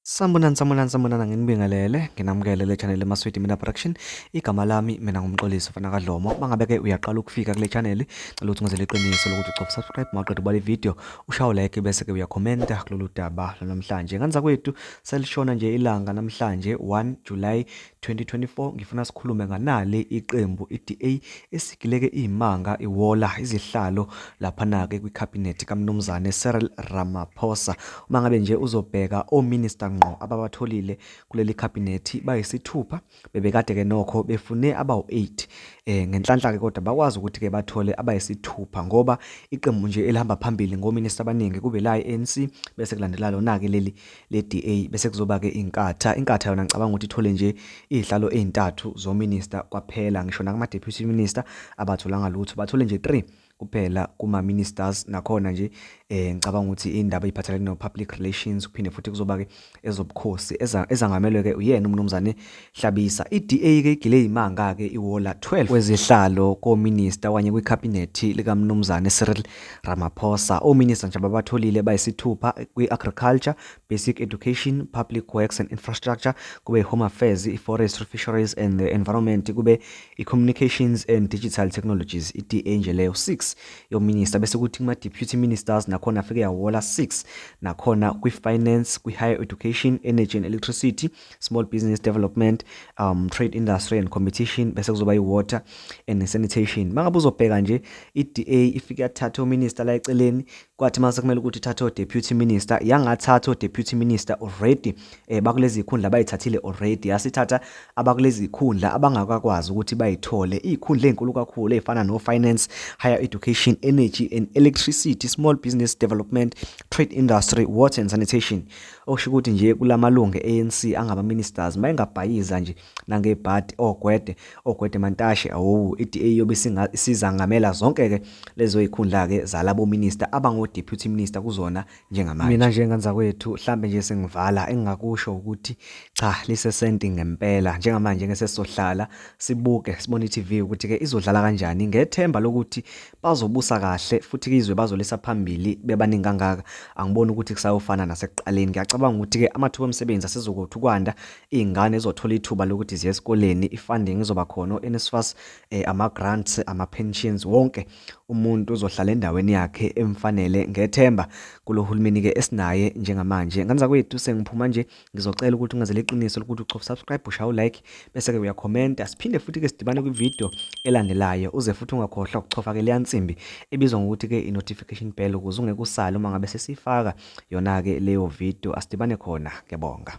Sambonani sambonani sambonana nginibingelele nginamukele le channel eMaswidi Mina Production igama lami mina ngumxolisi mfana kaDlomo mangabe ke uyaqala ukufika kule channel cela ukuthi ngizele iqiniso lokuthi ucofa subscribe maqeda ubale video ushawo like bese ke uyakhomenta kulolu daba namhlanje ngani zakwethu selishona nje ilanga namhlanje 1 July 2024 ngifuna sikhulume nganale iqembu iDA esigileke izimanga iwola izihlalo lapha nake kwiCabinet kaMnumzane Cyril Ramaphosa uma ngabe nje uzobheka ominister ngqo ababatholile kuleli cabinet bayisithupha bebekade ke nokho befune abawu8 eh ngenhlanhla ke kodwa bakwazi ukuthi ke bathole abayisithupha ngoba iqembu nje elihamba phambili ngominister abaningi kube la iANC bese kulandela lona ke leli Le DA bese kuzoba ke iNkatha. INkatha yona ngicabanga ukuthi ithole nje izihlalo ezintathu zominister kwaphela. Ngisho nakuma deputy minister abatholanga lutho. Bathole nje 3 kuphela kuma ministers nakhona nje eh ngicabanga ukuthi indaba iphathelene no public relations kuphinde futhi kuzoba ke ezobukhosi ezangamelwe ke uyena umnumzane Hlabisa, iDA ke igile yimanga ke iwola 12 wezihlalo kominista wanye kwikhabinethi likaMnumzane Cyril Ramaphosa. Ominista nje ababatholile bayisithupha kwi-Agriculture, Basic Education, Public Works and Infrastructure, kube i-Home Affairs, i-Forestry, Fisheries and the Environment, kube i-Communications and Digital Technologies, iDA nje leyo 6 yominista bese kuthi kuma-deputy ministers nakhona afike yawola 6 nakhona kwi-finance, kwi-higher education, energy and electricity, small business development um trade industry and competition bese kuzoba i-water and sanitation mangabe uzobheka nje i-DA ifike yathatha uminister la eceleni kwathi mase kumele ukuthi ithathe o-deputy minister yangathatha o-deputy minister already eh, bakulezi zikhundla bayithathile already yasithatha abakulezi zikhundla abangakakwazi ukuthi bayithole izikhundla ezinkulu kakhulu ezifana no finance higher education energy and electricity small business development trade industry water and sanitation Okusho ukuthi nje kulamalungu e-ANC angaba ministers mayengabhayiza nje nangebhadi ogwede oh, ogwede oh, mantashe awu iDA yobe isizangamela zonke ke lezo ikhundla ke zalabo minister abango deputy minister kuzona njengamanje. Mina nje nganza kwethu mhlambe nje sengivala engingakusho ukuthi cha lisesenti ngempela njengamanje ngeke sesizohlala sibuke sibone iTV ukuthi ke izodlala kanjani ngethemba lokuthi bazobusa kahle futhi izwe bazolisa phambili bebaningi kangaka angiboni ukuthi kusayofana nasekuqaleni ngiyacabanga ukuthi-ke amathuba omsebenzi asizokuthi ukwanda iy'ngane zizothola ithuba lokuthi ziye esikoleni i-funding izoba khona o-nsfas um eh, ama-grants ama-pensions wonke umuntu uzohlala endaweni yakhe emfanele ngethemba kulo hulumeni-ke esinaye njengamanje nganza kwethu sengiphuma nje ngizocela ukuthi ungazele iqiniso lokuthi uchofa subscribe ushaye ulike bese-ke uyakhomenta siphinde futhi-ke sidibane kwividiyo elandelayo uze futhi ungakhohlwa ukuchofa-ke leya nsimbi ebizwa ngokuthi-ke i-notification bell ukuze ungeke usale uma ngabe sesiyifaka yona-ke leyo vidiyo asidibane khona ngiyabonga